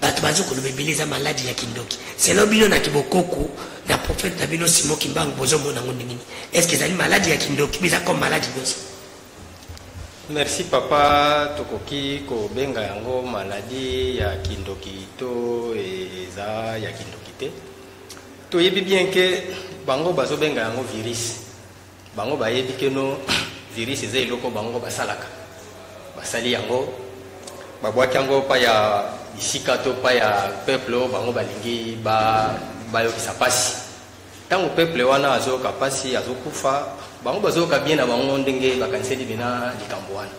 bato bazo koloba ebele eza maladi ya kindoki selo bino na kibokoko na profete na bino simo kimbangu bozomona yango ndenge nini estce ezali maladi ya kindoki biza comme maladi nyonso merci papa tokoki kobenga yango maladi ya kindoki to eza ya kindoki te toyebi bien ke bango bazobenga yango virus bango bayebi keno virus eza eloko bango basalaka basali yango babwaki yango pa ya bisika to pa ya peuple oyo bango balingi bayokisa ba mpasi ntango peuple wana azoyoka mpasi azokufa bango bazoyoka bien na bango ndenge bakaniseli bina likambo wana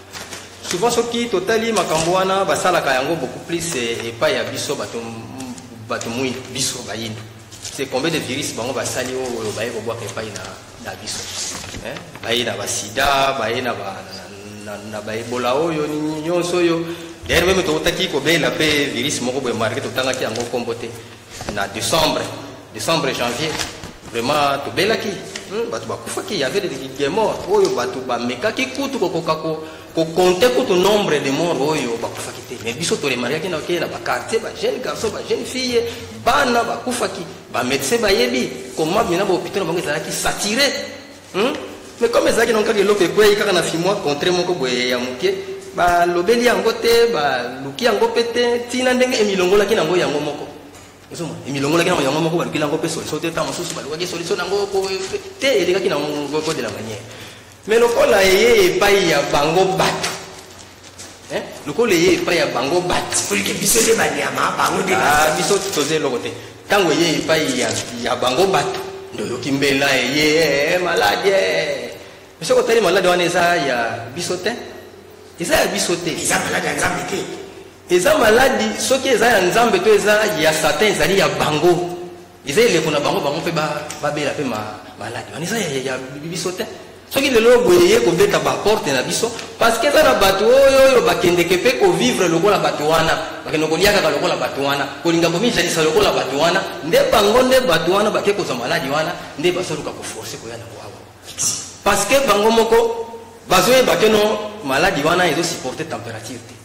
souvent soki totali makambo wana basalaka yango beaucoup plus eh, epai ya biso bato mwindu biso bayindo c'est combien de virus bango basali oyo oh, oh, baye kobwaka epai na, na biso eh? baye na basida baye na, ba, na, na, na baebola oyo nini nyonso oyo d'ailleurs meme tokotaki kobela mpe virus moko boye marke totangaki yango nkombo te na décembre décembre janvier vraiment tobelaki hmm, bato bakufaki yave de mort oyo bato bamekaki kutu kokoka ko ko compter kutu nombre de morts oyo bakufaki te mais biso toremarkaki na okeye na baquartier bajeune garçon bajeune fille bana bakufaki bamédecin bayebi koma mina bahôpital na bango ezalaki sature hmm? mais comme ezalaki nango kaka eloko ekwei kaka na fimoi contre moko boye ya moke balobeli yango te baluki yango mpe te ntina ndenge emilongolaki nango yango moko ozoma emilongolaki nango yango moko balukeli yango mpe solution te ntango mosusu balukaki solution nango te elekaki nango de la manière Mais lokola eye epai ya bango batu eh? lokola eye epai ya bango batu olike biso nde banyama bango nde ah, biso toza eloko te ntango eye epai ya, ya bango batu nde oyoki mbela eye eh, maladi eh. soki otali maladi wana eza ya biso te eza ya biso te eza maladi ya nzambe te eza maladi soki eza ya nzambe to eza ya satan ezali ya bango eza eleko na bango bango mpe babela mpe maladi wana eza ya biso te soki lelo boye ye kobeta baporte na biso parceke eza na bato oyo oyo bakendeke mpe kovivre lokola bato wana bakende kolia kaka lokola bato wana kolinga komijalisa lokola bato wana nde bango nde bato wana bake kozwa maladi wana nde bazoluka koforce koya na wawa parceke bango moko bazoyeba keno maladi wana ezosupporte température te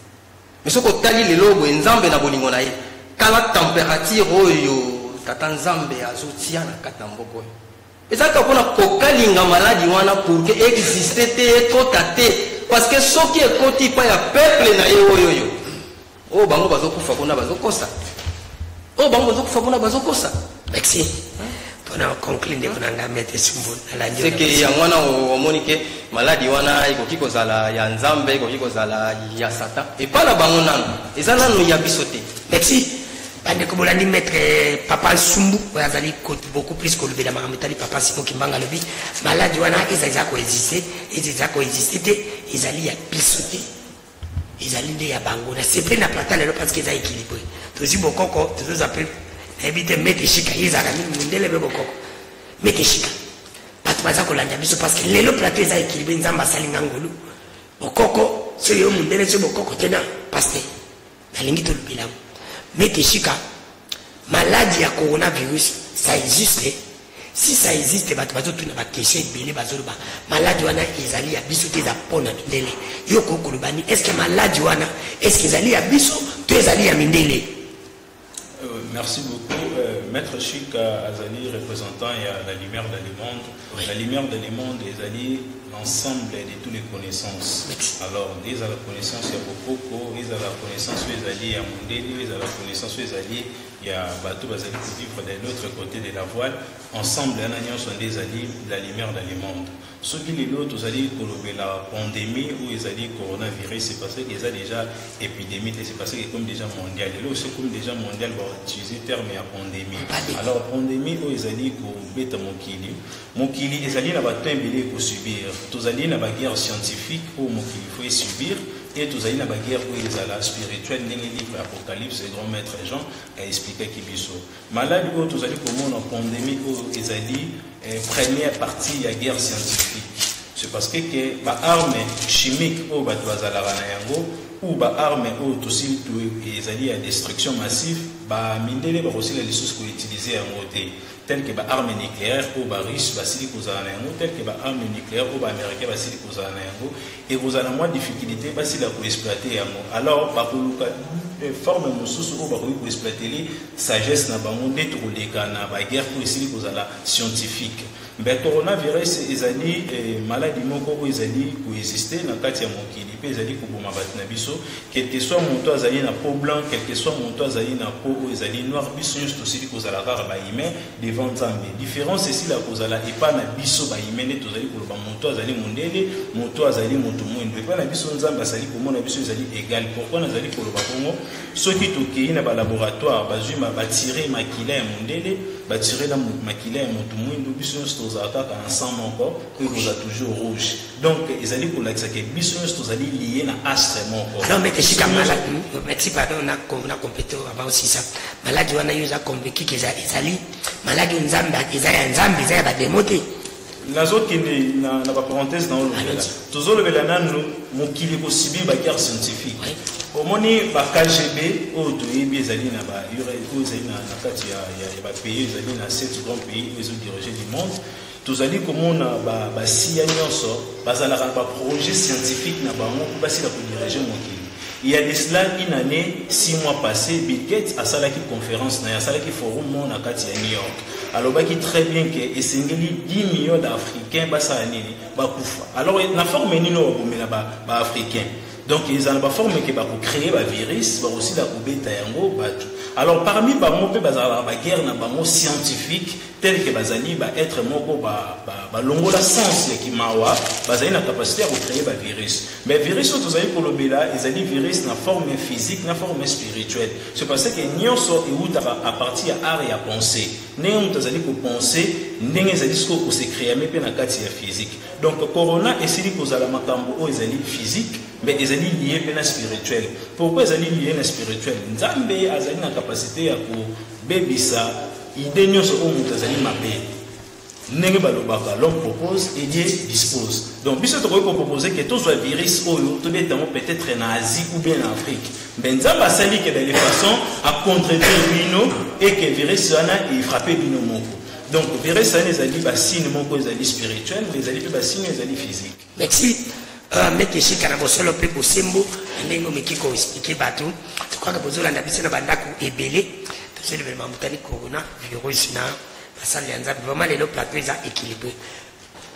Mais soki otali lelo boye Nzambe na bolingo na ye, tala temperature oyo tata Nzambe azotia na kati na mboko oyo. Ezalaka mpona kokalinga maladi wana pour que existe te ekota te parce que soki ekoti epai ya peuple na ye oyo oyo oyo bango bazokufa kuna bazokosa oyo bango bazokufa kuna bazokosa Merci. mpona oconclure ndeko na ngai mete sumbu nalandiseke yango wana omoni ke maladi wana ekoki kozala ya nzambe ekoki kozala ya satan epai na bango nano eza nano ya biso te merci bandeko bolandi maître eh, papa nsumbu oyo azali beaucoup plus kolobela makambo etali papa simo kimbanga alobi maladi wana eza eza koexiste eza eza koexiste te ezali ya biso te ezali nde ya bango na sepeli na plata lelo parce que eza équilibré tozwi bokoko tozoza mpe nayebi te mete shika ye ezalaka mingi mondele mpe bokoko mete shika bato baza kolanda biso parce que lelo plata eza équilibré nzambe asali nga ngolu bokoko soki yo mondele soki bokoko te na paster nalingi tolobela yango mete shika maladi ya coronavirus ça existe si ça existe bato bazotuna bakestion ebele bazoloba maladi wana ezali ya biso te eza mpo na mindele yo okoki koloba nini estce maladi wana estce ezali ya biso to ezali ya mindele euh, merci beaucoup euh, maître chik azali représentant ya la lumière de le monde La lumière de le monde ezali l'ensemble de toutes les connaissances. Alors, ils ont la connaissance ya Bokoko, ils ont la connaissance oyo ezali ya Mondeli, ils ont la connaissance oyo ezali ya bato bazali kovivre de l'autre côté de la voile. Ensemble, wana nyonso nde ezali la lumière dans le monde. soki lelo tozali kolobela pandémie oyo ezali coronavirus c'est parce que eza déjà epidemie te c'est parce que comme déjà mondial lelo soki comme déjà mondial bautilize terme ya pandémie alors pandémie oyo ezali kobeta mokili mokili ezali na bato ebele ekosubir tozali na baguerre scientifique oyo mokili faut esubir et tozali na baguerre oyo ezala spirituelle ndenge livre ya apocalypse grand maître jean aexplikaki biso Maladi oyo tozali komona pandemie oyo ezali eh, première partie ya guerre scientifique c'est parce que ke baarme chimique oyo bato bazalaka na yango ou baarme oyo tosili ezali ya destruction massive bamindele bakosila lisusu koutilize yango te tel que baarme nucléaire oyo barusse basili kozala na yango tel que baarme nucléaire oyo baaméricain basili kozala na yango ekozala na mwa difficulté basila koexploite yango alors bakoluka eh, forme mosusu oyo bakoki koexploitele sagesse na bango nde tokoleka na baguerre oyo esili kozala scientifique mbe coronavirus ezali eh, maladi moko oyo ezali koexiste na kati ya mokili mpe ezali koboma bato na biso quelque soit moto azali na po blanc quelque soit moto azali na po oyo ezali noir biso nyonso tosili kozala kaka bahumain devant nzambe difference esila kozala epa na biso bayime nde tozali koloba moto azali mondele moto azali moto mwindo epa na biso nzambe azali komona biso ezali egal pourkui nazali koloba bongo soki tokei na balaboratoire bazwi batire makila ya mondele batire na makila ya moto mwindo biso nyonso tozala kaka na sang moko mpo ekozala toujours rouge donc ezali kolakisa ke biso nyonso tozali lie na astre moko esika maladi pardon na compete aba osisa maladi wana yo eza convekike ezali maladi nzambe eza ya nzambe eza ya bademo te nazokende na baparenthèse na olobela tozolobela nanu mokili kosibi baguerre scientifique omoni bakgb oyo toyebi ezali na oyo ezali na kati ya bapays ezali na 7 grand pays oyo ezodirige du monde Tozali komona basiya nyonso bazalaka na baprojet scientifique na bango mpo basila kodirige mokili. Il y a de cela une année, six mois passés, Bill Gates asalaki conférence na ye, asalaki forum moko na kati ya New York. alobaki très bien que esengeli 10 millions d'africains basala nini bakufa alors na forme nini oyo bakomela baafricain ba donc eza na baforme ke bakocree bavirus bakosila kobeta yango bato alors parmi bango mpe bazalaka baguerre na bango scientifique tel que bazali ba être moko ba ba balongola sens ya kimawa bazali na capacité ya kocreye ba virus mais virus oyo tozali kolobela ezali virus na forme physique na forme spirituelle c'est parce que nyonso ewutaka à partir ya art ya pensée ndenge moto azali kopense ndenge ezali sikoyo kosekreame mpe na kati ya physique donc corona esili kozala makambo oyo ezali physique mais ezali lie mpe na spirituel pourquoi ezali lie na spirituel nzambe azali na capacité ya ko Bebisa idee nyonso oyo moto azali mabe ndenge balobaka l'homme propose et dieu dispose donc biso tokoki kopropose ke tozwa virus oyo tobeta yango peut-être na asie ou bien na afrique mais nzambe asali ke de façon acontredire bino e ke virus wana efrappe bino moko donc virus wana ezali basine moko ezali spirituel mais ezali mpe basine ezali physique Merci. Euh, meki esika na bosolo mpe bosembo na ndenge omeki koexplike bato tokwaka bozolanda biso na bandako ebele tozolemela mamutani corona virus na basali ya nzambe vraiment lelo plateau eza équilibré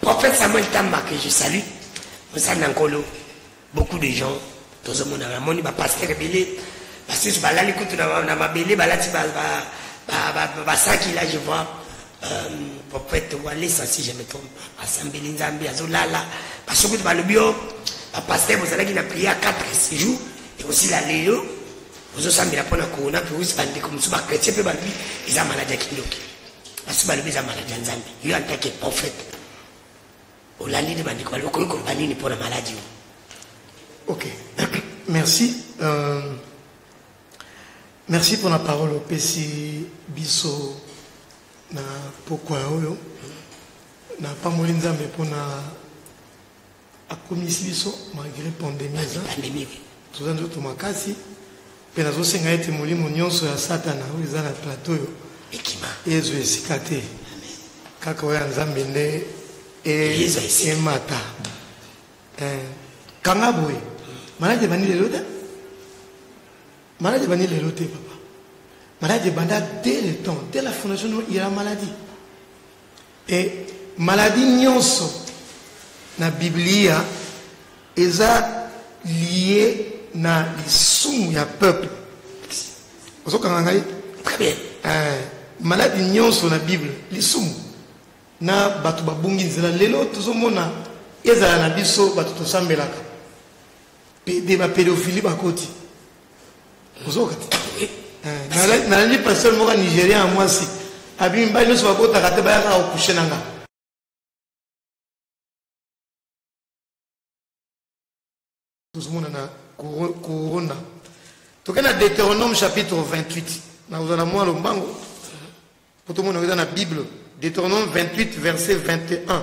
prophète samuel tamba que je salue mosali na nkolo beaucoup de gens tozomona namoni bapaster ebele basusu balali kutu na mabele balati basaki la je vois euh, prophète walesa si je me trompe asambeli nzambe azolala baso kutu balobi o oh, bapaster bozalaki na prier ya 4 jours ekosila lelo ozosambela mpo na corona virus bandeko mosusu bakretien mpe balobi eza maladi ya kindoki basusu balobi eza maladi ya nzambe yo antake prophète olandi nde bandeko balobi okoki koloba nini mpo na maladi oyo ok merci euh, merci mpona parole opesi biso na pokwa oyo napamboli nzambe mpona akomisi biso malgré pandémie eza toza nzoto makasi mpe nazosenga ete molimo nyonso ya satana oyo eza na plateau oyo ekima ezwa esika te kaka oyo ya nzambe nde emata eh, kanga boye maladi ebandi lelo te maladi ebandi lelo te papa maladi ebanda dès le temps dès la fondation ya maladi Mpe maladi nyonso na Biblia eza lie na lisumu ya peuple. Ozokanga ngai? Très bien. Eh, maladi nyonso na Bible lisumu na bato babungi nzela lelo tozomona ezala na biso bato tosambelaka pede bapedofili bakoti nalandi pasteur moko nigérien ya mwasi abimi mibali nyonso bakotaka te bayaka kokushe na ngai tozomona na korona toke na deuteronome chapitre 28 nakozwa na mwa lombango mpo tomona eza na bible deuteronome 28 verset 21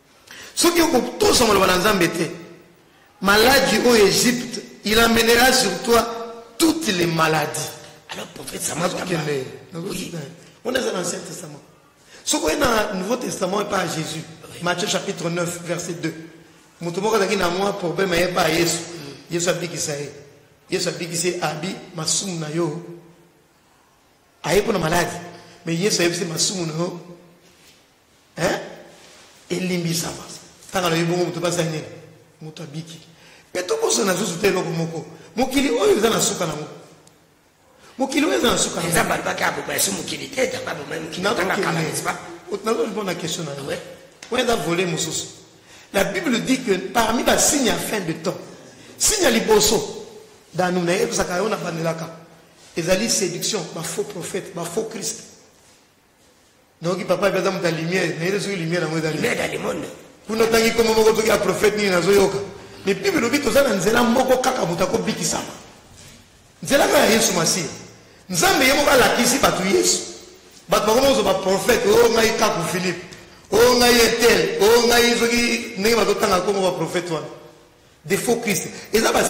soki okotosa maloba na nzambe te maladi oyo egypte il amènera sur toi toutes les maladies alors prophète samakende on eza na ancien testament soki oye na nouveau testament epa ya jésus matthieu chapitre 9 verset 2 moto moko azalaki na mwa problème aye epa ya yesu mm. yesu abikisa ye yesu abikisi ye abi masumu na yo aye mpo na maladi mais yesu ayebisi masumu na yo hein elimbisama ntango alobi bongo moto basali nini moto abiki mpe tobosana lisusu te eloko moko mokili oyo eza na suka nango mokili oyo eza na suka eza bato baka abobasi mokili te nazolibona na question na yo oyo eza vole mosusu la bible dit que parmi basigne ya fin de temps signe ya liboso danu na yebisaka yo na bandelaka ezali séduction bafaux prophète bafaux christ nayoki papa mpe aza moto ya lumière nayebi soki lumière yango eza lumière ya le monde kuna ntangi nkombo moko toki ya prophète nini nazoyoka mais bible elobi toza na nzela moko kaka moto akobikisama nzela kaka ya yesu masiya nzambe ye moko alakisi bato yesu bato bakoma kozwa baprofete oyo oh, ngai kaku philippe oyo oh, ngai etel oyo oh, ngai soki ndenge bazotanga nkombo baprofete wana de faux christ eza ba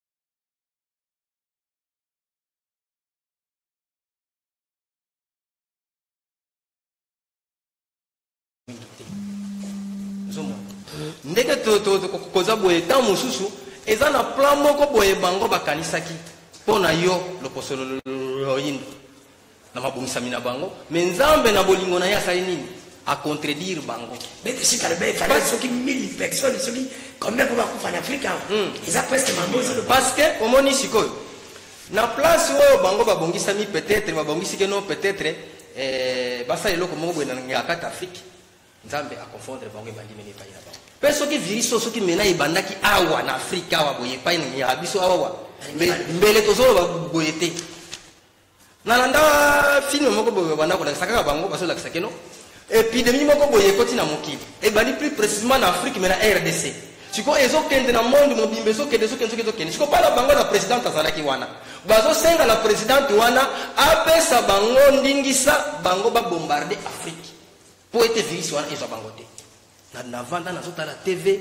ndenge koza boye ntango mosusu eza na plan moko boye bango bakanisaki mpo na yo lokoso loyindo na mabongisami na bango me nzambe na bolingo na ye asali nini acontredire bango soki mille personne soki combien po bakufa na afrika hmm. eza presque mambo parce que omoni sikoyo na place oyo bango babongisami peut-être babongisi ke non peut-être eh, basala eloko moko boye na ngakata afrique nzambe aconfondre bango ebandi mene epai na bango mpe soki virus oyo soki mena ebandaki awa na afrika awa boye epai na biso awawa mbele tozoloba boye te nalanda filme moko boye banda kolakisa kaka bango bazolakisa keno epidemie moko boye ekoti na mokili ebandi plus précisement na afrique mais na rdc sikoyo ezokende na monde mobimba ezokende ezokende soki ezokende sikoyo mpana bango na présidente azalaki wana bazosenga na présidente wana apesa bango ndingisa bango babombarde afrique mpo ete virisi wana ezwa bango te na navanda nazotala tv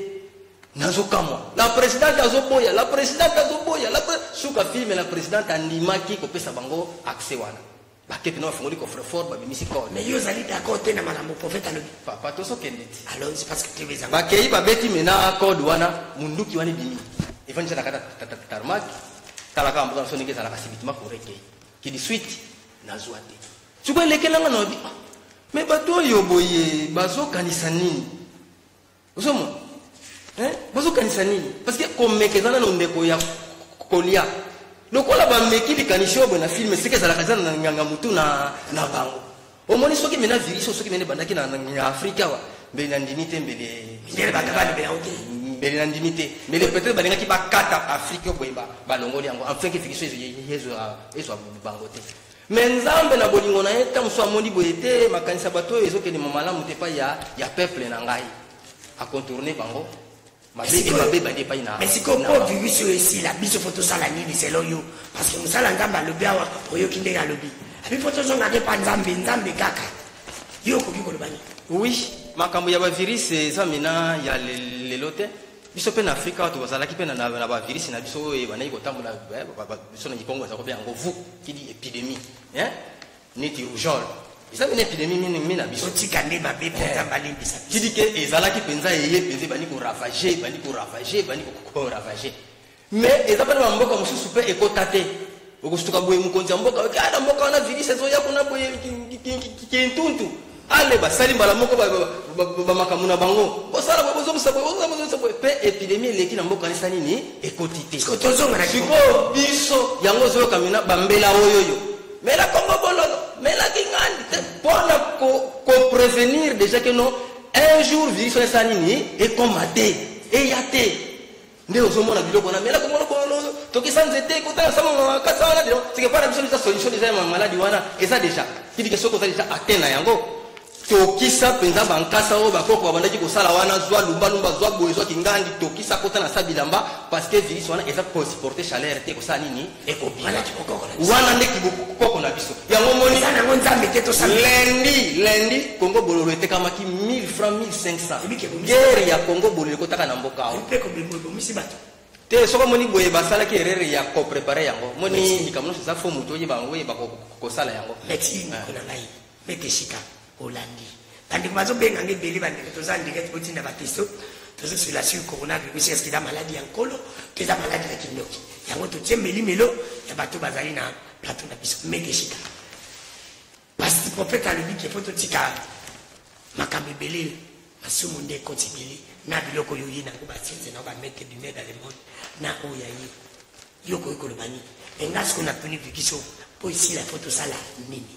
nazokamwa la presidente azoboya la presidente azoboya la suka filme la presidente andimaki kopesa bango accès wana bakete na bafungoli coffrefort babimisi code mais yo ozali d'accord te na malambo prophète alobi papa tosokende ti alonzi parce que tv ezanga bakei babeti mena code wana munduki wana ebimi evandisa na kata tarmak talaka mboka na so ndenge ezalaka sibitima korekei kidi suite nazwa te sikoyo elekela nga na me bato oyo boye bazokanisa nini ozomona eh? bazokanisa nini parce que komeka eza nano ndeko ya kolia lokola bameki likanisi oyo boye na filme seke ezalaka eza na nganga motu na, na bango omoni soki mena virus oyo soki mene ebandaki na, na, na afrika awa mbele na ndimi te mbele mbele bato balobela yango te mbele na ndimi te mbele peut-être balingaki bakata afrika oyo boye balongoli yango enfin ke virus ezo ezwa bango te me nzambe na bolingo na ye ntango mosusu amoni boye te makanisi ya bato oyo ezokende ma malamu te epai ya, ya peuple na ngai akontourne bango sikoyo mpo virus oyo esila biso fo tosala nini selon yo parce que mosala nzambe alobi awa oyoki ndenge alobi abi fo tozongaka epa nzambe nzambe kaka yo okoki koloba nini oui makambo ya bavirus eza mina ya lelo te biso mpe na afrika wato bazalaki mpe na bavirisi na biso oyo ebandaki kotambola eh, biso na kikongo ezako mpe yango vu kidi epidemie eh? neti rougeole eza mpe na epidemie mingi na biso otika nde mabe mpenza eh. balimbisa kidi ke ezalaki mpenza eye mpenza ebandi koravage ebandi koravage ebandi koravage mais eza mpe na bamboka mosusu mpe ekota te okosutuka boye mokonzi ya mboka oke na mboka wana virus ezoya kuna boye kintuntu ale basali mbala moko bamakambo na bango bosala boye bozongisa boye bozongisa boye mpe epidemi eleki na mboka nisa nini ekoti te sikoyo biso yango ozoyoka mina bambela oyoyo mela kongo bololo mela kingandi te mpo na koprevenir déjà ke no un jour virus wana esala nini ekoma te eya te nde ozomona biloko wana mela komona kono tokisa nzete kotala sama kasa wana bilo sike pana biso biza solution deja ya maladi wana eza deja kidike soki oza deja atteint na yango tokisa mpenza bankasa oyo bakoko babandaki kosala wana zwa lumbalumba zwa boye zwa kingangi tokisa kota na sa bilamba parce que virus wana eza kosuporte chaleur te kosala nini wana nde kibokoko na biso yango moniyango nzambe te tosalendi lendi congo bololo etekamaki 1000 franc 1500 gere ya congo bololo ekotaka na mboka ao te soki omoni boye basalaki erreur ya koprepare yango moni likambo nyonso eza fo moto oyeba yango oyeba kosala yango mete esika olandi bandeko bazobenga nge ebele bandeko toza ndirect botinda batesto tozosula sur coronavirus eske eza maladi ya nkolo to eza maladi ya kindoki yango totie melimelo ya bato bazali na plateau na biso mete esika pasi profete alobi ke mpo totika makambo ebele masumu nde ekoti ebele na biloko oyo oye nango basiense nao bamete bime dans le monde na oyo ya ye yo okoki koloba nini enga sikoyo natuni vikisio mpo esila mpo tosala nini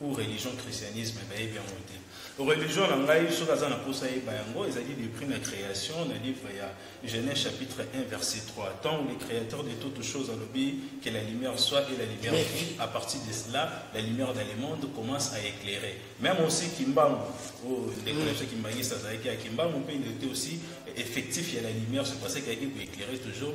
ou religion christianisme bayebi yango te religion na ngai soki aza na mposa yeba yango ezali depuis na création na livre ya genèse chapitre 1 verset 3 tant le créateur de toutes choses alobi que la lumière soit et la lumière fut à partir de cela la lumière dans le monde commence à éclairer même aussi kimbangu oyo oh, ndeko na biso kimbangiste azalaki ya kimbangu mpe ndote aussi effectif ya la lumière c'est parce que ayaki koéclaire toujours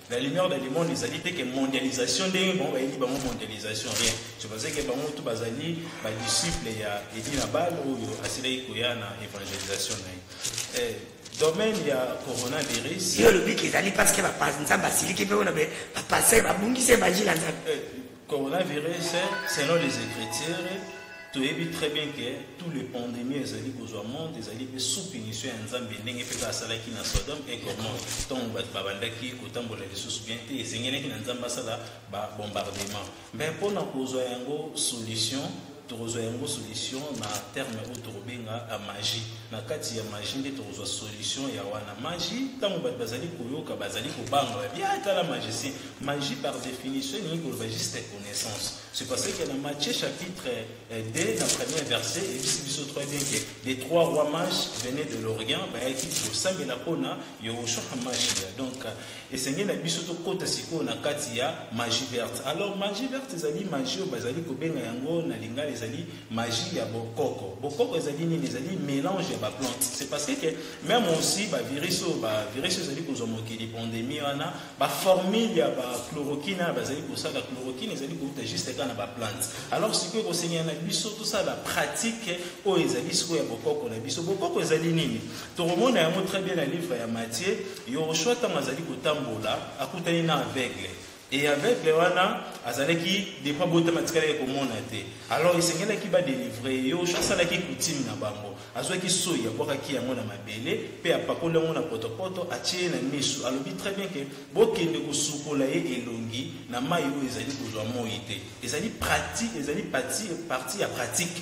La lumière dans le monde ezali te ke mondialisation ndenge bango bayebi bango mondialisation rien je pense ke bango tu bazali badisciple ya edi na bale oyo asilaki koya na évangélisation na ye eh, domaine ya coronavirus yo olobi ke ezali parce ke nzambe asiliki mpe wana bapasteur babungisi évangile ya nzambe eh, Coronavirus, selon les écritures, toyebi très bien que tous les pandémies ezali kozwa monde ezali mpe sous punition ya nzambe ndenge mpe asalaki na sodome et gomore ntango bato babandaki kotambola lisusu bien te esengelaki na nzambe asala babombardement mais mpo na kozwa yango solution tokozwa yango solution na terme oyo tokobenga euh, magie na kati ya magie nde tokozwa solution ya wana magie ntango bato bazali koyoka bazali kobanga babi ah, tala magicien magie par définition elingi koloba juste connaissance c'est parce que na matthieu chapitre 2 euh, na premier verset ebisi biso très bien que les trois rois mages venaient de l'orient bayaki kosambela mpona yehoshua hamashia donc esengeli na biso tokɔta sikoyo na kati ya magie verte alors magie verte ezali magie oyo bazali kobenga yango na lingala ezali magie ya bokoko bokoko ezali nini ezali mélange ya baplante c'est parce que même aussi bavirus oyo bavirus ezali kozwa mokili pandémie wana baformule ya bachloroquine wana bazali kosala chloroquine ezali kouta juste kaka na baplante alors sikoyo ekosengela na biso tosala pratique oyo ezali sikoyo ya bokoko na biso bokoko ezali nini tokomona yango très bien na livre ya matie Yoshua ntango azali kotambola akutani na aveugle e aveugle wana azalaki depo abotama atikalaki komona te alors esengelaki badelivre ye yoshua asalaki kutime na bango azwaki soi abwakaki yango na mabele mpe apakoli yango na potopoto atie ye na misu alobi très bien ke bokende kosukola ye elongi na mai oyo ezali kozwa moi te ezali pratique ezali parti ya pratique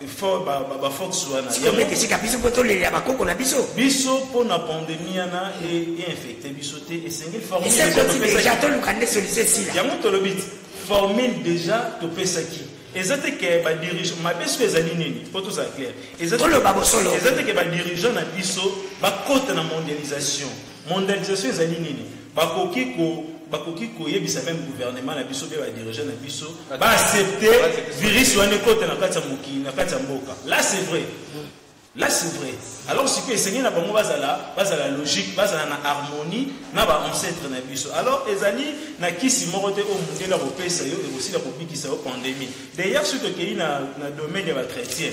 bafolekesika biso mpo tolelela bakoko na biso biso mpo na pandemi yana einfecte biso te esengeli deja toluka nde solution esila yango tolobi formule deja topesaki eza te ke badirigeant mabe soki ezali nini mpo tozala claire eza te ke badirigeant na biso bakota na mondialisation Mondialisation ezali nini? Bakoki ko bakoki koyebisa meme gouvernement na biso mpe badirigeant na biso baaccepte virus wana ekota na kati ya mokili na kati ya mboka là c'est vrai là c'est vrai alors sikoyo esengeli na bango bazala bazala logique bazala na harmonie na baancetre na biso alors ezali na kisi moko te oyo mondele ya kopesa yo ekosila kobikisa yo pandémie d'ailleurs soki tokei na, na domaine ya bachrétien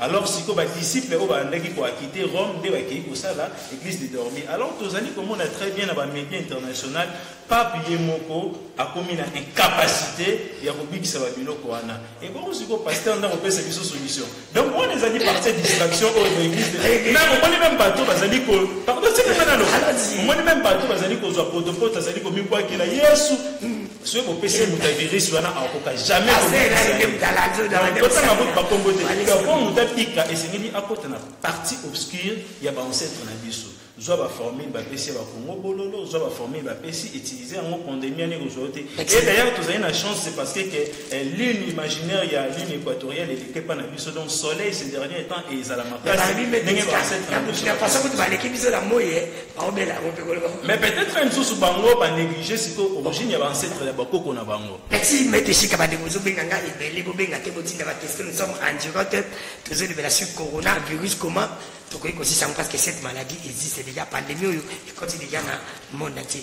alors sikoyo badisiple oyo balandaki koakite rome nde bakei kosala église de dormi alors tozali komona très bien na bamédia international pape ye moko akomi na incapacité ya kobikisa babiloko wana ebongo sikoyo paster nda kopesa biso solution donc wana ezali partie distraction oyo baeglise na omoni meme bato bazali ko pardon sekemanalo omoni meme bato bazali kozwa potopoto azali komibwakela yesu soki bopesi ye muta virus wana akokoka jamaistanga kutu bakombo te po muta pika esengeli akota na partie obscure ya baancetre na biso zwa baformule bapesi ya bakongo bololo zwa baformule bapesi utilize yango pandemi ani kozwa te e d'ailleurs tozali na chance c'est parce que ke eh, lune imaginaire ya lune équatoriale eleki epa na biso donc soleil ces dernier temps ezala makasi ndenge baleki biso na moye baobela yango mpe koleka mais peut-être mosusu bango banéglige sikoyo origine ya baancetre ya bakoko na bango merci mete esika bandeko ozobenga ngai ebele bobenga te botinda baquestion nous sommes en direct tozolobela sur corona virus comment tokoki kosisa yango parce que cette maladie existe déjà pandémie oyo ekoti déjà na monde entier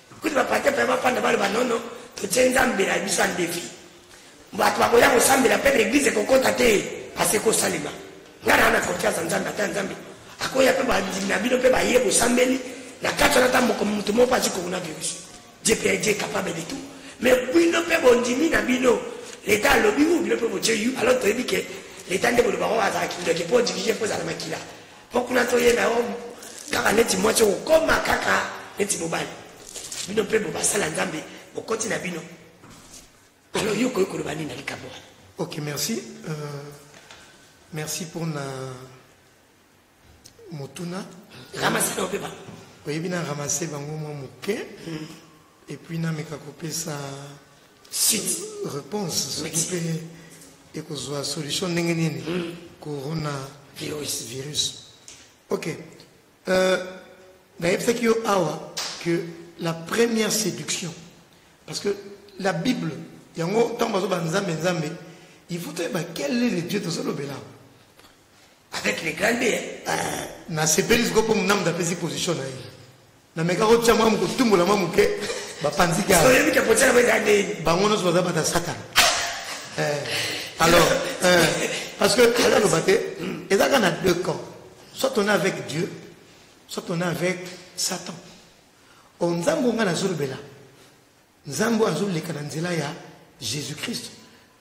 kutu bapate mpe bafanda baloba nono totie nzambe na biso andefi bato bakoya kosambela mpe baeglize ekokota te pasi ekosalema ngai naa na confiance ya nzambe ata nzambe akoya mpe bandimi na bino mpe baye bosambeli na kati wana ata moko moto moko azi kokuna virus je mpe je capable de tout mais bino mpe bondimi na bino leta alobi u bino mpe botie yu alors toyebi ke leta nde bolobaka oyo azalaki ndoki mpo dirige mpo ozala makila mpo kuna toyeba yango kaka neti mwasi okokoma kaka neti mobali bino mpe bobasala nzambe bokoti na bino alors yo okoki koloba nini na likambo wana ok merci euh, merci mpo na motuna ramasana ope bango oyebi na ramase bango mwa moke hmm. et puis nameka kopesa réponse soki mpe ekozwa solution ndenge nini hmm. corona virus virus ok euh, nayebisaki yo awa que la première séduction parce que la bible yango ntango bazoba nzambe nzambe il faut toyeba quel est le dieu tozolobela avec les grandes hein. euh, nasepeli sikoyo mpo monamda apesi position na ye nameka kotya mwa mokotumbola mwa moke bapanzi bango nyonso baza bata satana eh, alors eh, parce que ezaloba te eza kaka na deux camps soit on est avec dieu soit on est avec satan o oh, nzambe ongai nazolobela nzambe oyo azoleka na nzela ya jésus christ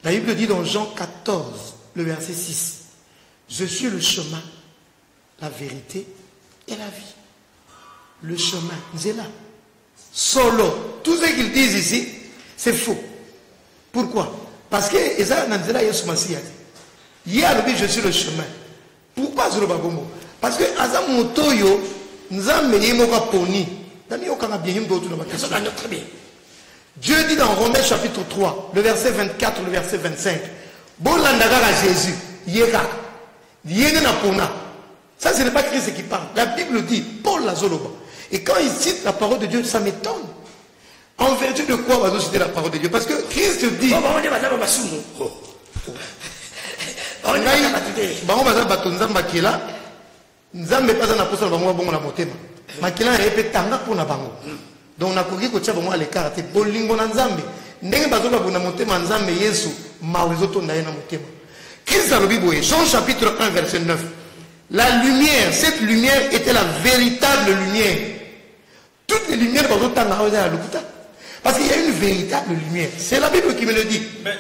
la bible dit dans jean 14 le verset 6 je suis le chemin la verite et la vie le chemin nzela solo tout ce qu'ils disent ici c'est faux pourquoi parce que eza na nzela yesu masiya te ye alobi je suis le chemin pourquoi azoloba bongo parce que aza moto oyo nzambe ye moko aponi namiyokanga bien ye moto otuna bakestion très bien Dieu dit dans Romains chapitre 3, le verset 24, le verset 25, Bolanda kaka Jésus, ye kaka. Yene na pona. Ça, ce n'est pas Christ qui parle. La Bible dit, Paul la Zoloba. Et quand il cite la parole de Dieu, ça m'étonne. En vertu de quoi va nous citer la parole de Dieu Parce que Christ dit. Oh, bah, oh. bango baza bato nzambe akela nzambe mpe aza na mposa na bango babongo na motema makela na ye mpe tanga mpo na bango donc nakoki kotia bango alekara te bolingo na nzambe ndenge bato babunda motema ya nzambe yesu mawa ezotonda ye na motema kristo alobi boye jean chapitre 1 verset 9 la lumière cette lumière était la véritable lumière toutes les lumières bazotanga awa eza ya lokuta parce qu'il y a une véritable lumière c'est la bible qui me le dit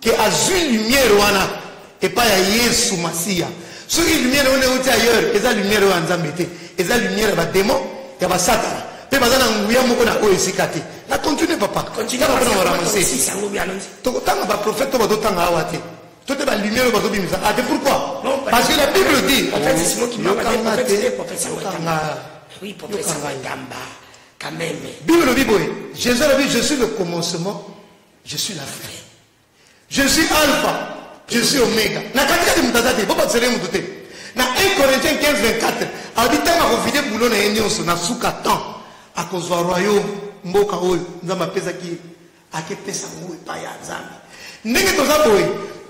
ke azwi lumière wana epai ya yesu masiya soki lumière wana euti ailleurs eza lumière oyo ya nzambe te eza lumière ya bademo ya basatana mpe baza na nguya moko na oyo esika te na continue papa tokotanga baprofete to bazotanga awa te to te balumière oyo bazobimisa a ah, te pourquoi parce que la bible dit yokanga te yokanga yokanga bible elobi boye jésus alobi je suis le commencement je suis la fin je suis alpha je suis omega na katikati moto aza te bobakisele moto te na 1 corinthien 15 24 abi ntango akovide bulo na ye nyonso na suka temps akozwa royaume mboka oyo nzambe apesaki ye akepesa yango epai ya nzambe ndenge toza boye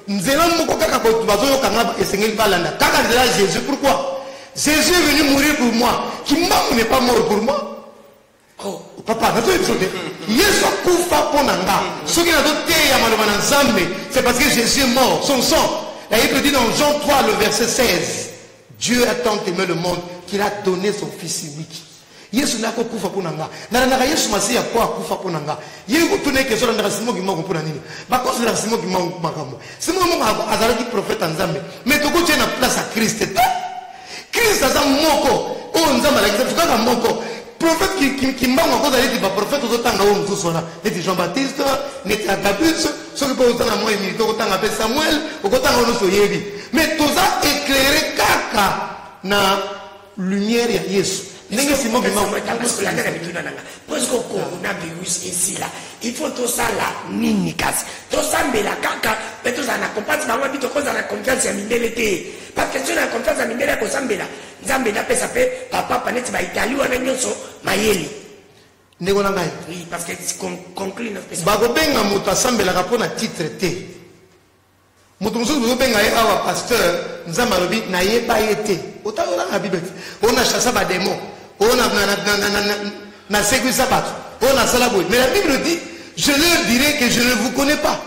nzela moko kaka bato bazoyoka nga esengeli balanda kaka nzela ya jésus pourquoi jésus est venu mourir pour moi kimbangu n'est pas mort pour moi papa nazoyi biso te yesu akufa mpo na nga soki nazoteya maloba na nzambe c'est parce que jésus est mort son sang la bible dit dans jean 3 le verset 16 dieu a tant aimé le monde qu'il a donné son fils unique yesu nde akokufa mpo na nga nalandaka yesu masiya mpo akufa mpo na nga ye kotuna eke ezolandaka simo kimoko mpo na nini bakozelaka simo kimoko makambo simo moko azalaki profete ya nzambe me tokotie na place ya kriste te Christ aza moko oyo nzambe alakisa biso kaka moko prophète kimbangu akoza neti baprophète ozotanga oyo mosusu wana neti jean baptiste neti agabus soki mpe ozana mwa humilité okotanga mpe samuel okotanga oyo nyonso oyebi mais toza éclairé kaka na lumière ya yesu ndenge simo bimaoyangana mituna nanga presque okonguna virus esila il faut tosala nini kasi tosambela kaka mpe tozala na compase bango abi tokozala na confiance ya mindele te bakestion na ya confiance ya mindele ya kosambela nzambe napesa mpe bapapa neti baitali wana nyonso mayele ndeko na ngai bakobenga moto asambelaka mpo na titre te moto mosusu bozobenga ye awa pasteur nzambe alobi nayeba ye te otalolanga bible te oyo na chasa bademo oyo nasekwisa bato oyo nasala boye mais la bible dit je leur dirai que je ne vous connais pas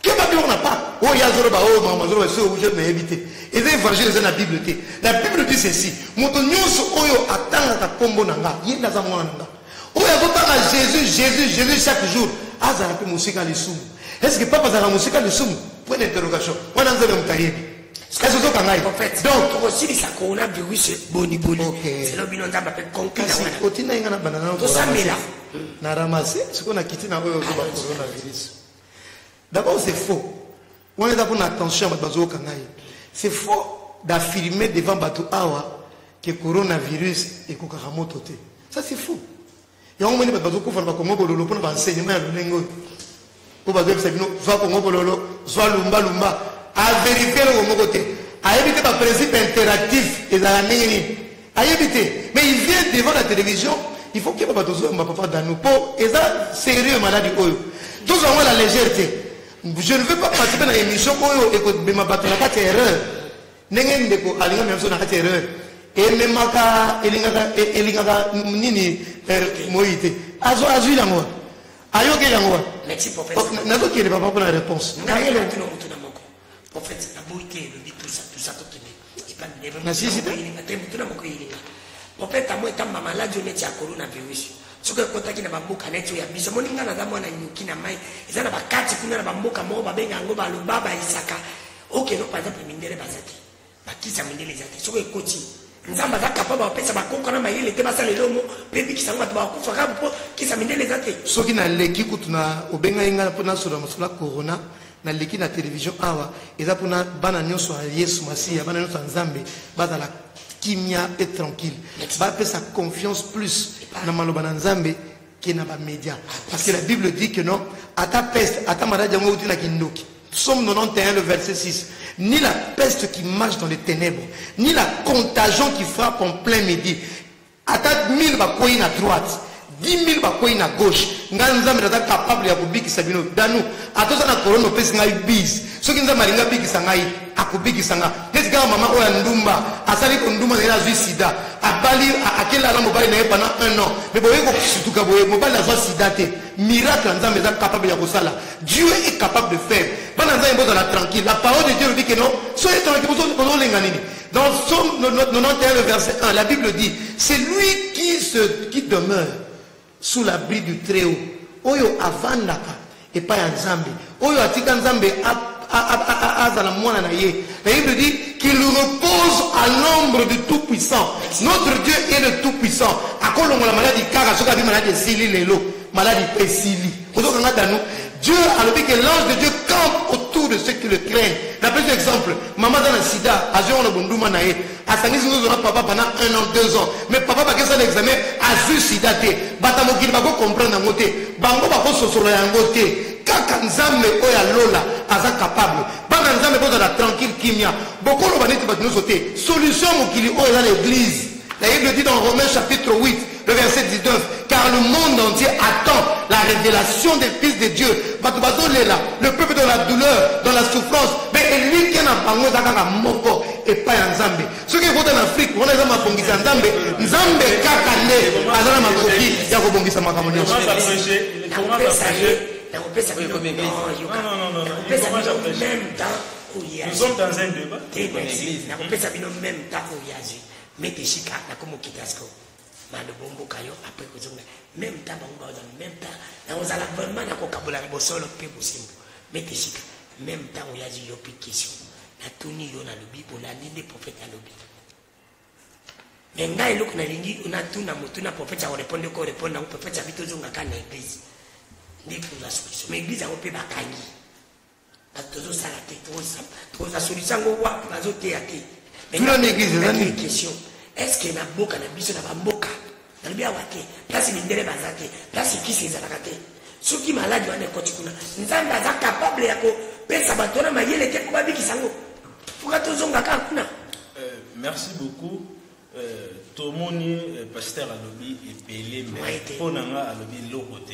keba biloko na pa oyo ye azoloba oyo makambo azoloba soki obuki oyo nayebi te eza évangile eza na bible te la bible dit ceci moto nyonso oyo atangaka nkombo na nga ye nde aza mwana na nga oyo azotanga jésus jésus jésus chaque jour azala mpe mosika ya lisumu estce papa azalaka mosika ya lisumu point d'interrogation wana nzambe moto ayebi kasi ozoka ngai donc tokosilisa coronavirus boni boni zelo bino nzambe ape konkasi otinda ye ngai na banda na tosambela na ramase sikoyo na kiti na oyo ozoba coronavirus D'abord c'est faux. On est pour attention à bazo kangai. C'est faux d'affirmer devant Batou Awa que coronavirus est kokaka moto te. Ça c'est faux. Et on m'a dit que bazo kufa ba Congo bololo pour enseignement ya lolengo. Pour bazo bisa bino zwa Congo bololo, zwa lumba lumba. A vérifier le Congo te. A éviter ba principe interactif et la nini. ayebi te mais il vient devant la télévision il faut keba bato ozoyamba papa dano mpo eza sérieux maladi oyo tozwa yango la légère te je ne veux pas participer na émission oyo ekobema bato na kati ya erreur ndenge ndeko alinga mia biso na kati ya erreur ememaka elingaka e, elingaka nini eh, moyi te azwi yango ayoki yango wa nazokende papa mpona réponse nasisi te motuna moko eyelinga kopeta mo etamba maladi oyo neti ya coronavirus soki ekotaki na bamboka neti oyo ya biso moni ngai naza mwana nyuki na mai eza na bakati kuna na bamboka moko babenga yango baloba bayisaka okeno par exemple mindele baza te bakisa mindele eza te soki ekoti nzambe aza kapable bapesa bakoko na mayele te basala elongo mpe bikisa yango bato bakufa kaka mpo kisa mindele eza te soki naleki kutu na obengai ngai mpo nasolola mosolo ya corona naleki na televizio awa eza mpona bana nyonso ya yesu masiya bana nyonso ya nzambe bazala kimia mpe tranquille bapesa confiance plus na maloba na nzambe ke na bamédia parce que la bible dit que non ata peste ata maladi yango euti na kindoki Somme 91, le verset 6. Ni la peste qui marche dans les ténèbres, ni la contagion qui frappe en plein midi, ata 1000 bakwei na droite 10000 bakwei na gauche ngai nzambe naza capable ya kobikisa bino danu ata oza na korona opesi ngai bise soki nzambe alingi abikisa ngai akobikisa nga neti kaka mama oyo ya ndumba asali kondumba na ye azwi sida abali akeli ala mobali na ye pendant un an me boye kosutuka boye mobali azwa sida te miracle ya nzambe eza capable ya kosala dieu est capable de faire bana nzambe bozala tranquille la parole de dieu elobi keno soki etonaki bozolenga nini Dans Psaume 91, le verset 1, la Bible dit, c'est lui qui, se, qui demeure sous l'abri du Très-Haut. Oyo avandaka et pas ya Nzambe. Oyo atika Nzambe azala mwana na ye. La Bible dit qu'il repose à l'ombre du Tout-Puissant. Notre Dieu est le Tout-Puissant. Akolongola maladi kaka soki abi maladi esili lelo. Maladi esili. ozokanga danu dieu alobi que l'ange de dieu campe autour de ceux qui le craignent napesi exemple mama aza na sida azwi yango na bonduma na ye asangisi nzozo na papa pendant un an deux ans mais papa bakesala examen azwi sida te bata mokili bakocomprendre yango te bango bakososola yango te kaka nzambe oyo ya lola aza capable bana nzambe bozala tranquille kimia bokoloba neti bato nyonso te solution mokili oyo eza na eglise La Bible dit dans Romains chapitre 8, le verset 19, car le monde entier attend la révélation des fils de Dieu. Le peuple dans la douleur, dans la souffrance, mais lui qui en a parlé, dans moko et pas en Zambie. Ceux qui votent en Afrique, on a jamais bongi en Zambie. Zambie kakane, azana makoki, ya ko bongi sa makambo nyonso. Comment ça prêcher? Comment ça prêcher? Nakopesa bino non, yoka. Nakopesa bino même temps oyazi. Nous sommes dans un débat. Nakopesa bino même temps oyazi. mete shika na komo kitasco mando bomboka yo après kozonga même temps bango baoza même temps na ozala vraiment na kokabola na bosolo mpe bosimbo mete shika même temps oyazi yo mpe question natuni yo nalobi olandi nde prophète alobi me ngai eloko nalingi natuna motu na prophète ya korepondre oko repondre yango prophète abi tozongaka na église nde tozwa solution ma église yango mpe bakangi bato tozosala te tozasolisa yango wapi bazoteya te tuna na eglise eza nini question estce na mboka na biso na bamboka nalobi awa te place mindele baza te place kisi ezalaka te soki maladi wana ekoti kuna nzambe aza kapable ya kopesa bato wana mayele te mpo babikisa yango mpoka tozongaka kuna euh, merci beaucoup Euh, tomoni euh, pasteur alobi ebele mpo na nga alobi eloko te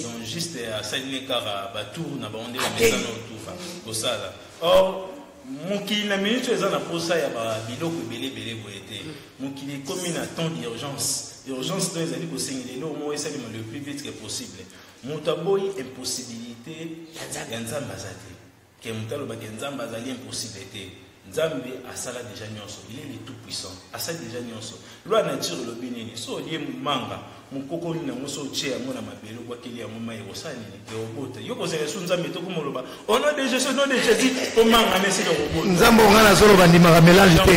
donc juste euh, asalini kaka batour na bango nde bamesa na otufa kosala or mokili na minute eza na mposa ya biloko ebele ebele boye te mm. mokili ekomi na temps d'urgence urgence to ezali kosengela eloko moko esalema le plus vite que possible moto aboyi impossibilité ya nzambe aza te Ken moto aloba ke nzambe azali impossible te nzambe asala deja nyonso il est le tout puissant asali deja nyonso loi nature elobi nini so olie manga mokoko nini yango so otie yango na mabele obwakeli yango mai ekosala nini ekobota yo kozala esu nzambe te okoma oloba ono de jesus no de jésus omanga na esika kobota nzambe onga nazoloba ndimaka melange te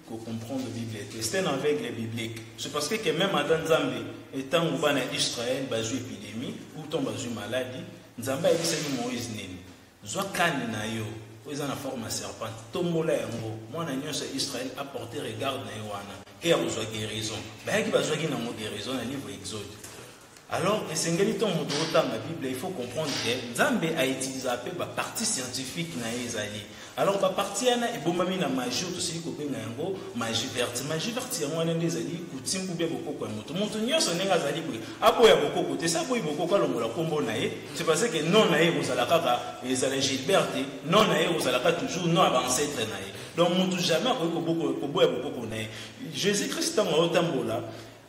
ko comprendre bible te c'est un aveugle biblique c'est parce que même ata nzambe etango bana ya israel bazwi epidémie utan bazwi maladi nzambe ayebisaki moïse nini zwa kani na yo oyo eza na forme ya serpent tombola yango mwana nyonso ya israel aporte regarde na ye wana ke ya kozwa guérison bayaki bazwaki nango guérison na livre exode Alors, esengeli to moto otanga Bible, il faut comprendre que Nzambe a utilisé un peu ba partie scientifique na ye ezali. Alors ba partie yana ebombami na magie to sili ko benga yango magie verte. Magie verte yango wana nde ezali kutimbu bia bokoko ya moto. Moto nyonso ndenge azali boye, aboya bokoko te, sa boyi bokoko alongola kombo na ye. C'est parce que non na ye kozala kaka ezala Gilbert te, non na ye kozala kaka toujours non ba ancêtre na ye. Donc moto jamais akoki koboya bokoko na ye. Jésus-Christ ntango aotambola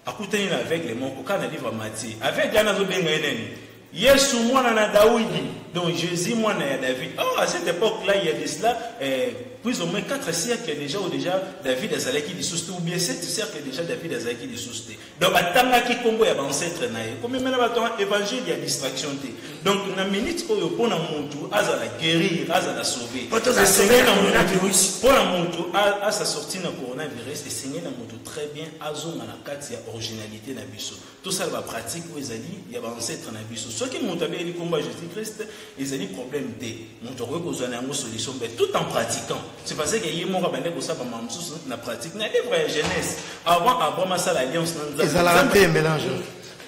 akutani na aveugle moko kaka na livre ya matie aveugle wana azobenga ye nani yesu mwana na daudi donc jésus mwana ya david oh, à cette époque là il y a de cela eh, plus ou moins 4 siècles déjà ou déjà david azalaki lisusu te ou bien 7 siècles déjà david azalaki lisusu te donc batangaki nkombo ya baancetre na ye komemela bato ya évangile ya distraction te donc na minute oyo mpo na motu azala guérir azala sauve esengeli na motu mpo na motu asa sortir na coronavirus esengeli na motu très bien azonga na kati ya originalité na biso tosala bapratique oyo ezali ya baancetre na biso soki moto abeleli nkombo ya jésus christ ezali problème te moto akoki kozwa na yango solution mpe tout en pratiquant c'est parce que ye moko abandaki kosala bambaa mosusu na pratique na livre ya jeunesse avant abraham asala alliance na nzambe ezalaka mpe mélange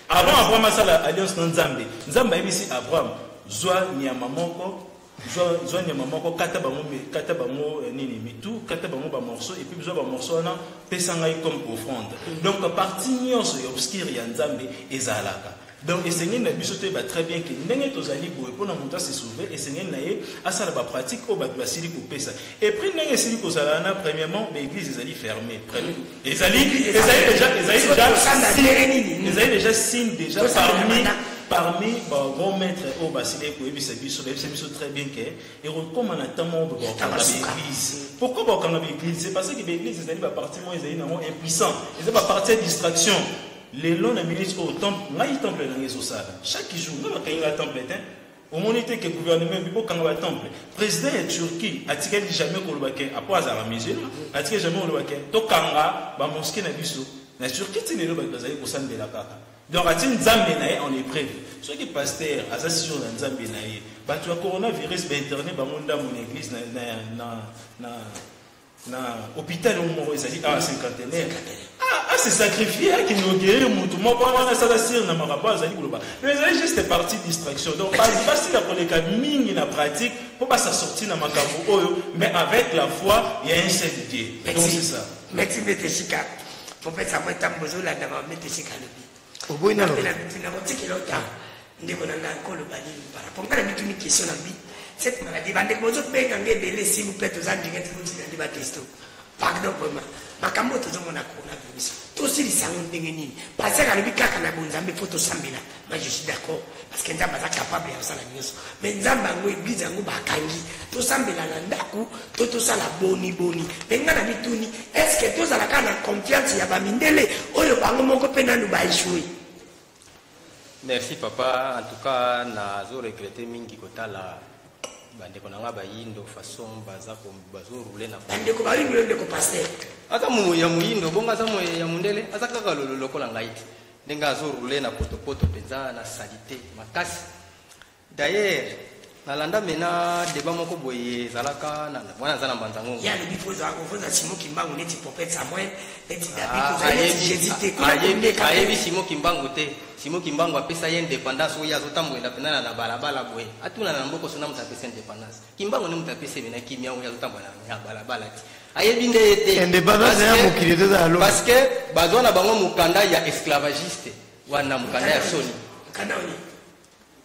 avant abraham asala alliance na nzambe nzambe ayebisi abraham zwa nyama moko zwa nyama moko kata bango kata bango eh, nini mitu kata bango bamorceau epuis zwa bamorceau wana pesa ngai comme offrande donc parti nyonso ya obscure ya nzambe ezalaka donc esengeli na biso toyeba très bien ke ndenge tozali boye mpona moto asesauve esengeli na ye asala bapratique oyo bato basili kopesa epris ndenge esili kozala wana premièrement baeglise ezali ferme ezali ezali deja ezali deja ezali deja signe deja parmi parmi bagrands maîtres oyo basili koyebisa biso bayebisa biso très bien ke ekokoma na ntango moko bakokanga baeglise pourquoi bakokanga baeglise c'est parce que baeglise ezali baparti moko ezali nango impuissant eza baparti ya distraction lelo na minute oyo ngai temple na ngai ezosala chaque jour nga bakangi nga temple te omoni te ke gouvernement ebi bokanga ba temple président ya turquie atikali jamais koloba ke apo azalaka musulman atikali jamais koloba ke tokanga bamoske na biso na turquie ti lelo bato bazali kosambela kaka donc ati nzambe na ye en épreuve soki paster aza sur na nzambe na ye bato ya coronavirus bainterne bango ndambo na église na, na, na, na na hôpital yango moko ezali awa cinquantenaire ase sacrifie akinogerie motu moko wana asala sire na makambo azali koloba mais ezali juste partie distraction donc basila koleka mingi na pratique mpo basa sorti na makambo oyo mais avec la foi ya un seul dieu donc c'est ça merci mbete sika popesa mwa ntango bozolanda bamete sika alobi oboyi nano mpe nakotikela yo ntango ndeko na ngai koloba nini parapo ngai na mituni question na bi cette maladie bandeko bozobenga ngai ebele s'il vous plaît toza ndingati kotika nde bakristo pardon vraiment makambo oyo tozomona coronavirus tosilisa yango ndenge nini pasaka alobi kaka na bonzambe mpo tosambela ma je suis d'accord parce que nzambe aza capable ya kosala nyonso me nzambe yango eglize yango bakangi tosambela na ndako to tosala boni boni me ngai na mituni estce tozalaka na confiance ya bamindele oyo bango moko mpe nanu baechoue merci papa en tout cas nazo regrete mingi kotala bandeko na ngai bayindo façon baza bazorule na bandeko bayindo yo ndeko paster aza ya moyindo bongo aza ya mondele aza kaka lolo lokola ngai te ndenge azo roule na potopoto mpenza na salite makasi d'ailleurs nalanda mena deba moko boye ezalaka wana aza na mbanza ngongo ya lobi mpo ezalaka ovoza simo kimbangu neti popete samuel neti dabiayebi simo kimbangu te simo kimbangu apesa ye indépendance oyo azotambolela mpenza na balabala boye atunana na mbokoso na moto apesa indépendance kimbangu nde moto apesi ebena kimia oyo azotambola na balabala ti ayebi nde ye te independance ya mokili te ezala lobi parce que bazwa na bango mokanda ya esclavagiste wana mokanda ya soni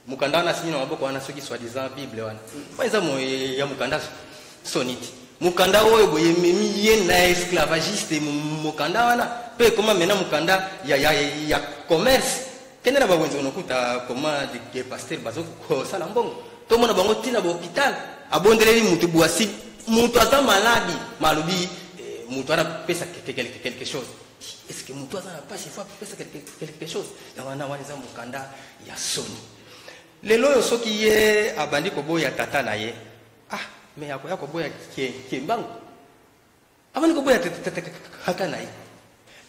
mokanda wana asimi na maboko wana soki soit disant bible wana wana eza ya mokanda soni ti mokanda oyo boye ememi ye na esclavagiste mokanda wana mpe ekoma mena mokanda ya, ya, ya commerce kende na bawenze onokuta koma de pasteur bazo kosala mbongo tomona bango ntina bahopital abondeleli motu bwasi motu aza maladi malobi eh, motu wana pesa quelque chose est ce que motu aza na mpasi fo apesa quelque chose yango wana wana eza mokanda ya soni lelo oyo soki ye abandi koboya tata na ye ah me akoya koboya kembangu abandi koboya tata na ye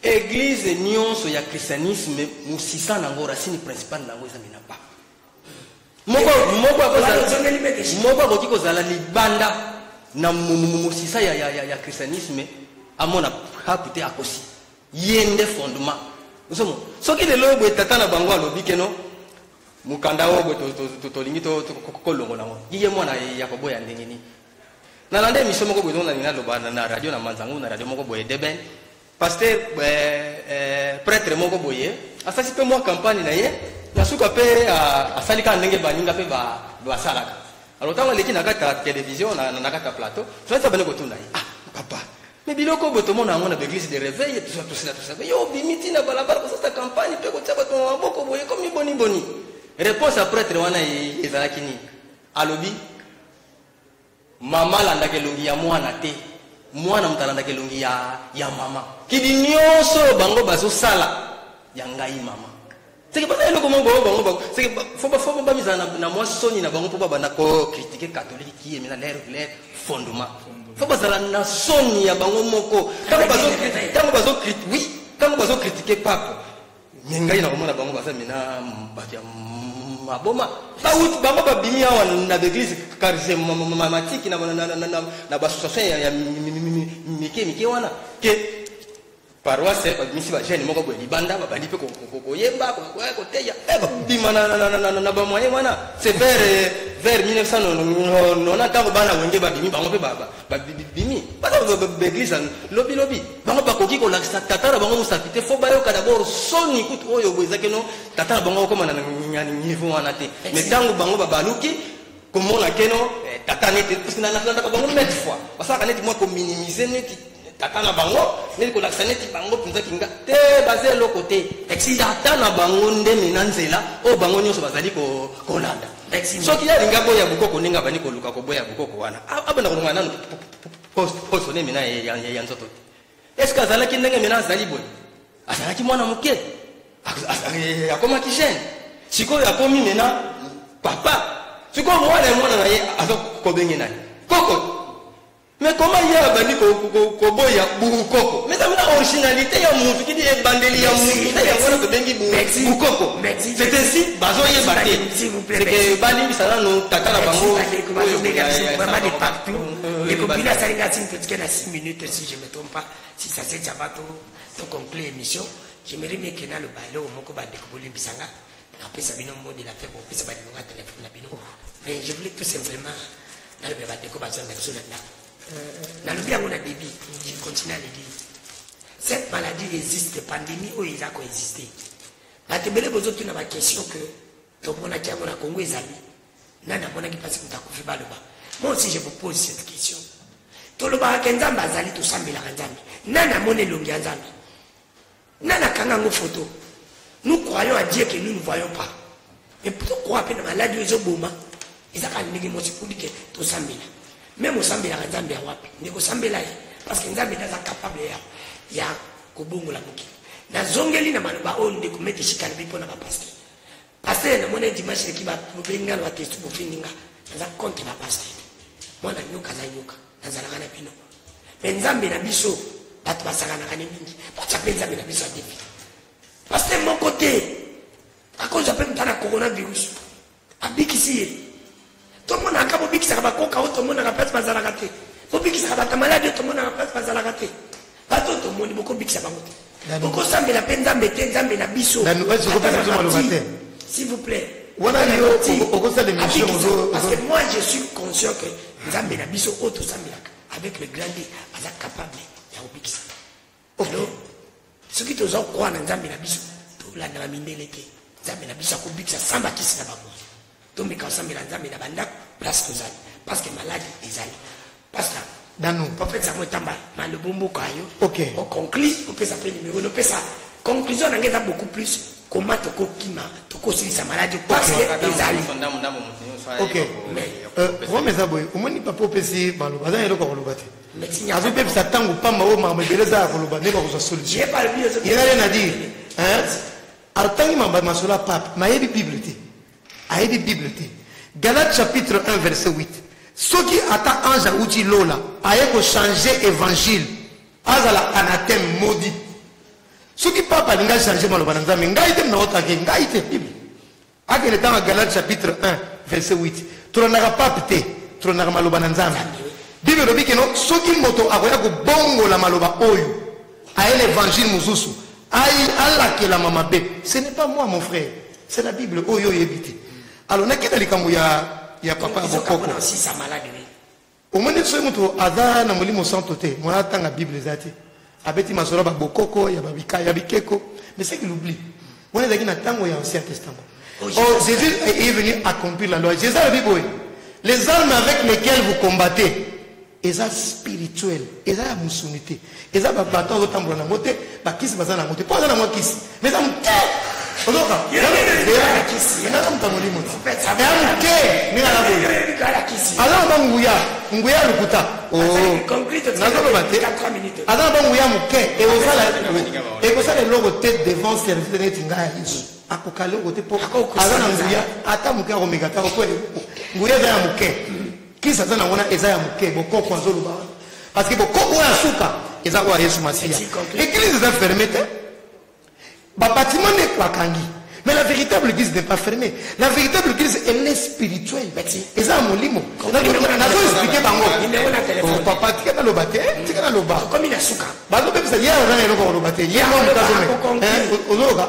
eglize nyonso ya christianisme mosisa na yango racine principale na yango ezambi na papa moko akoki kozala libanda na mosisa ya, ya, ya, ya christianisme amona hapu te akosi ye nde fondement ozomo soki lelo oyo boye tata na bango alobi keno mokanda oyo boye tolingi kolongola yango ye mwana ya koboya ndenge nini Na landa emission moko boye na lina loba na radio na manzango na radio moko boye deben pasteur euh, euh, prêtre moko boye asasi pe mwa campagne na ye na suka pe euh, asali ka ndenge baninga pe ba basalaka alors ntango aleki na kati ya télévision na kati ya plateau toyaki bani kotuna ye ah papa me biloko oyo tomona yango na baeglise de réveil tosila tosila yo obimi ntina balabala kosasa campagne mpe kotia bato na maboko boye komi boniboni réponse ya prêtre wana ezalaki nini alobi Mama alandaka elongi ya mwana te, mwana moto alandaka elongi ya, ya mama. Kidi nyonso oyo bango bazosala ya ngai mama seke baza eloko moko bango bango bango seke fo ba fo bamizala na mwa soni na bango mpo babanda kokritike katolike kiye mina lere lere fondement fo bazala na soni ya bango moko ntango bazokritike oui ntango bazokritike pape me ngai nakomona bango baza mina bato ya maboma bawuti bango babimi awa na baeglise karismatiki na baassociation ya mike mike wana ke paroisse eh, babimisi bagene moko boye libanda babandi mpe koyemba koteya eh, babima na bamoyen wana se vers vers 1990 ntango bana wenge babimi bango mpe babimi baza baeglise lobilobi bango bakoki kolakisa tata na bango mosapi te fo bayoka dabord soni kutu oyo boye eza keno tata na bango akokoma na niveau wana te me ntango bango babaluki komona keno eh, tata neti parce nalandaka bango mete fois basalaka neti mwa kominimize neti tata na bango neti kolakisa neti bango mpenza kinga te baza eloko te tata na bango ndemi na nzela oyo bango nyonso bazali kolanda soki yalinga boya bokoko ndenge abandi koluka koboya bokoko wana abanda kolonga nanu poso nde mina ya nzoto te eske azalaki ndenge mina azali boye azalaki mwana moke eh, akomaki jeune sikoyo akomi mina papa sikoyo mwana ya mwana na ye aza kobenge nani koko me koma ye abandi koboya bukoko meza mina originalité ya mutu kidi ebandeli ya mutu nde yango wana tobengi bukoko c'est ainsi bazoyeba te seke balimbisa nanu tata na bango ekobila asali nga signe petike na 6 minutes si je me trompe pas si ça se tya bato to conclure émission j'aimerais bien que naloba eloko moko bandeko bolimbisa nga napesa bino modi na mpe bopesa bandeko nga telefone na bino mais je voulais tout simplement naloba bandeko bazonga biso na ndako nalobi yango na début je continue à le dire cette maladie existe pandémie oyo eza koexiste bato ebele bozotuna baquestion que tomonaki yango na congo ezali nani amonaki mpasi moto akufi baloba moi aussi je vous pose cette question tolobaka ke nzambe azali tosambelaka nzambe nani amoni elongi ya nzambe nani akanga yango foto nous croyons à dieu que nous ne voyons pas mais pourto croire mpe na maladi oyo ezoboma eza kaka ndenge mosi pudi ke tosambela meme osambelaka nzambe ya wapi ndeko osambela ye parce que nzambe nde aza capable ya, ya kobongola mokili nazongeli na maloba oyo ndeko mete shikalobi mpo na bapaster pasteur na mona dimanche leki ba problème ngalo ba testu bo findinga naza contre ba pasteur mwana nyoka za nyoka nazalaka na bino mais nzambe na biso bato basakanaka ne mingi batya mpe nzambe na biso ya defi pasteur moko te akozwa mpe motana coronavirus abikisi ye tomonaka kaka bobikisaka bakoka oyo tomonaka place bazalaka te bobikisaka bato maladi oyo tomonaka place bazalaka te bato oyo tomoni bokobikisa bango te bokosambela mpe nzambe te nzambe na biso s'il vous plaît wana yo okosala émission parce que moi je suis conscient que nzambe na biso oyo tosambelaka avec le grand d aza capable ya kobikisa Oto, soki toza kokoa na nzambe na biso tolandaka mindele te nzambe na biso akobikisa sans bakisi na bango tomeka kosambela nzambe na bandako place tozali parce que maladi ezali pasta dano prophète yango etamba malobo mboka yo ok oconclus opesa mpe numero nopesa conclusion na ngai eza beaucoup plus koma tokokima tokosilisa maladi parce que ezali ok rome eza boye omoni papa opesi maloba aza eloko ya koloba te azobebisa ntango mpamba oyo makambo ebele eza ya koloba nde bakozwa solution yelale na dire atangi mambo ya masolo ya pape mayebi bible te ayebi bible te galate chapitre 1 verset 8 soki ata ange auti lola aye kochange évangile azala anathème modi soki pape alingi achange maloba na nzambe ngai te mnaotake ngai te bible akende tanga galate chapitre 1 verset 8 tolandaka pape te tolandaka maloba na nzambe bible elobi keno soki moto akoya kobongola maloba oyo aye na évangile mosusu ayi alakelama mabe ce n'est pas moi mon frère c'est la bible oyo oyebi te alors nakenda likambo ya ya papa ya bokoko omoni soki moto aza na molimo santo te mwana atanga bible eza te abeti masolo ya babokoko ya babika ya bikeko mais c'est qu'il oublie wana ezalaki na ntango ya ancien testament oh, oh jésus est venu accomplir la loi jésus alobi boye les armes avec lesquelles vous combattez eza spirituel eza ya mosuni te eza ba bato azo tambola na ngote ba kisi baza na ngote po aza na mwa kisi mais eza moke ozoka na kisi nga na motamo limo eza moke ndenge na boye aza na ba nguya nguya ya lokuta nazoloba te aza na ba nguya moke ekosala eloko te devant service neti ngai ya yesu akoka eloko te po aza na nguya ata moke akomeka ta po nguya eza ya moke Kisi aza nango na eza ya moke bokoko azoloba wana parce que bokoko oyo ya suka eza oyo ya yesu masiya église eza ferme te babatima nde bakangi mais la véritable église n'est pas fermée la véritable église elle est spirituelle eza ya molimo nazo explike bango oh, papa tika naloba te eh, tika naloba bazobebisa ye aza na eloko koloba te ye moto azomeka ozoyoka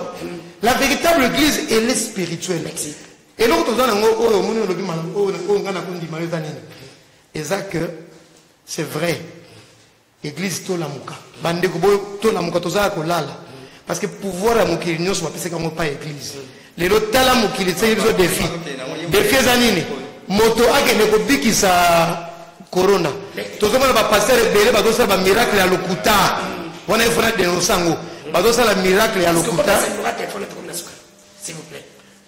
la véritable église elle est spirituelle eloko toza nango oyo omoni olobi oyo ngai nakondima yo eza nini eza que c'est vrai église tolamuka bandeko boyo tolamuka toza ya kolala parce que pouvoir ya mokili nyonso bapesaki yango pa église lelo tala mokili tisaki biso défi défi eza nini moto akende kobikisa corona tozomona bapasteur ebele bazosala bamiracle ya lokuta wana efona denonse yango bazosala miracle ya lokuta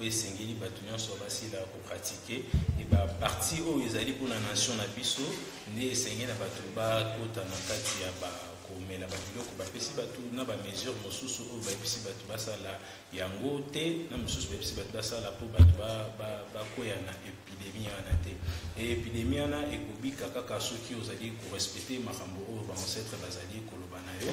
oyo esengeli bato nyonso basila kopratike e baparti oyo ezali mpona nation na biso nde esengeli na bato bakota na kati ya ba komela babiloko bapesi bato na bamesure mosusu oyo bayebisi bato basala yango te na mosusu bayebisi bato basala mpo bato bakweya na epidemi wana te epidemi wana ekobika kaka soki ozali korespecte makambo oyo baancetre bazali koloba na yo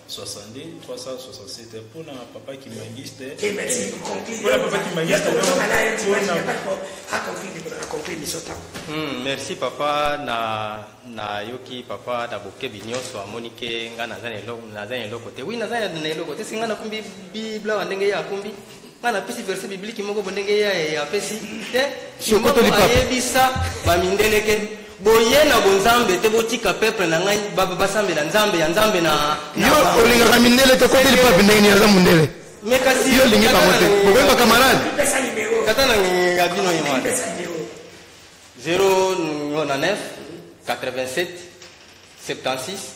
62 367 mpo na papa kimangiste mpo na papa kimangiste merci papa na nayoki papa na bokebi nyonso amoni ke ngai naza na eloko te wi naza na eloko te si ngai nakumbi biblawa ndenge ye akumbi nga napesi verse bibliki moko bo ndenge ye apesi te ayebisa bamindele ke boye na bonzambe te botika peuple na ngai basambela nzambe ya nzambe na yo olingaka mindele te koteli pape ndenge nini aza mondele me kasi yo olingi bango te bokoyeba camarade kata na ya bino ye wana 0 na 9 87 76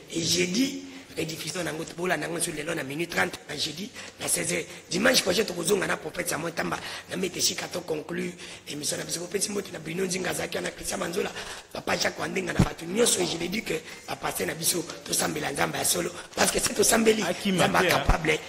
Et jeudi, rediffusion nango tobola nango sur lelo na minute 30 na jeudi na 16h dimanche prochain tokozonga na prophète Samuel Tamba na mete shika to conclu émission na biso kopesi mbote na Bruno Nzinga azaki na Christian Manzola papa Jacques Wandenga na bato nyonso je l'ai dit que ba passer na biso tosambela Nzambe ya solo parce que si tosambeli Nzambe capable